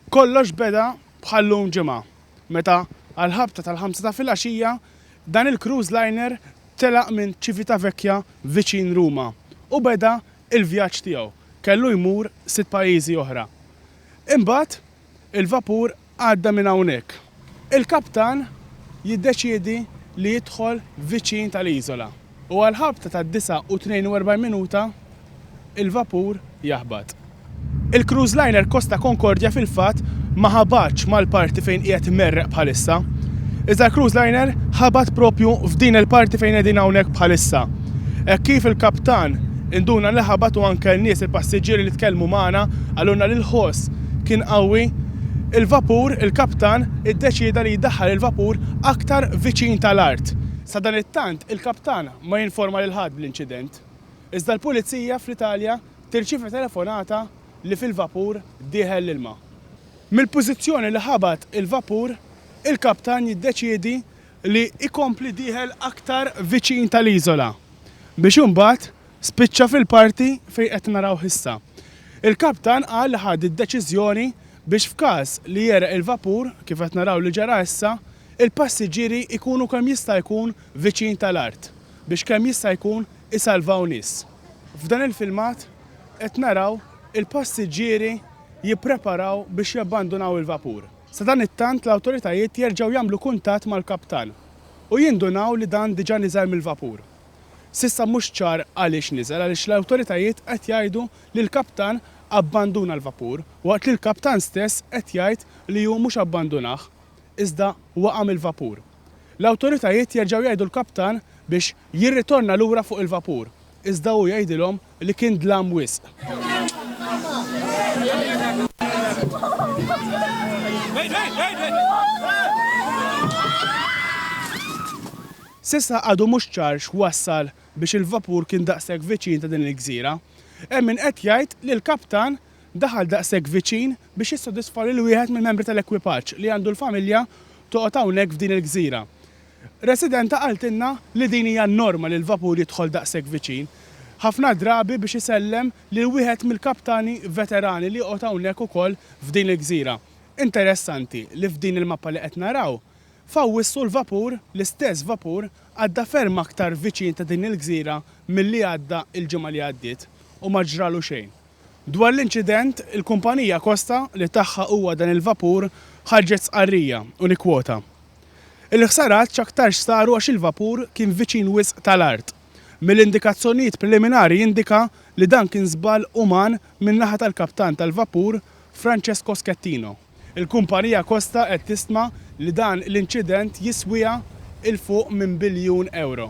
Kollox beda bħal-lum Ġimgħa meta għall-ħabta tal-ħamsa ta' filgħaxija dan il-cruise liner telaq minn Civitavecchia viċin Ruma u beda l-vjaġġ tiegħu. Kellu jmur sitt pajjiżi oħra. Imbagħad il-vapur għadda minn hawnhekk. Il-kaptan jiddeċiedi li jidħol viċin tal-iżola. u għall-ħabta tad-49 minuta il-vapur jaħbat. Il-cruise liner Costa Concordia fil-fatt ma ħabatx mal-parti fejn qiegħed imerreq bħalissa, iżda l-cruise liner ħabat propju f'din il-parti fejn qegħdin hawnhekk bħalissa. Hekk kif il-kaptan induna li ħabat u anke n-nies il-passiġġieri li tkellmu magħna qalulna li l-ħoss kien qawwi, il-vapur, il-kaptan iddeċieda li jdaħħal il-vapur aktar viċin tal-art. Sadanittant, il-Kap tagħna ma jinforma lil ħadd bl-inċident. Iżda l-Pulizija fl-Italja tirċievi telefonata li fil-vapur dieħel l-ilma. Mill-pożizzjoni li ħabat il-vapur, il-kaptan jiddeċiedi li jkompli dieħel aktar viċin tal-iżola, biex imbagħad spiċċa fil-parti fejn qed narawh issa. Il-kaptan qal li ħa d-deċiżjoni biex f'każ li jegħreq il-vapur, kif qed naraw li ġara issa, il-passiġġieri jkunu kemm jista' jkun viċin tal-art biex kemm jista' jkun isalvaw nies. F'dan il-filmat qed naraw il-passiġġieri jippreparaw biex jabbandunaw il-vapur. Sadanittant l-awtoritajiet jerġgħu jagħmlu kuntatt mal-kaptan u jindunaw li dan diġà niżel mill-vapur. S'issa mhux ċar għaliex niżel għaliex l-awtoritajiet qed jgħidu li l-kaptan abbanduna l-vapur waqt li l-kaptan stess qed jgħid li hu mhux abbandunah iżda waqa' mill-vapur. L-awtoritajiet jerġgħu jgħidu l-kaptan biex jirritorna lura fuq il-vapur, iżda hu jgħidilhom li kien dlam wisq. S'issa għadu mhux ċar x'wassal biex il-vapur kien daqshekk viċin ta' din il-gżira. Hemm min qed jgħid li l-kaptan daħal daqshekk viċin biex jissodisfa lil wieħed mill-membri tal-ekwipaġġ li għandu l-familja toqgħod hawnhekk f'din il-gżira. Residenta qaltilna li din hija n-norma li l-vapur jidħol daqshekk viċin, ħafna drabi biex isellem lil wieħed mill-kaptani veterani li joqgħod hawnhekk ukoll f'din il-gżira. Interessanti li f'din il-mappa li qed naraw, f'Awwissu l-vapur, l-istess vapur, għadda ferm aktar viċin ta' din il-gżira milli għadda l-ġimgħa li għaddiet u ma ġralu xejn. Dwar l-inċident, il-kumpanija Costa li tagħha huwa dan il-vapur ħarġet stqarrija, u nikkwota, Il-ħsarat x'aktarx saru għax il-vapur kien viċin wisq tal-art. Mill-indikazzjonijiet preliminari jindika li dan kien żball uman min-naħa tal-kaptan tal-vapur Francesco Schettino. Il-kumpanija Costa qed tistma li dan l-inċident jiswiha 'l fuq minn biljun ewro.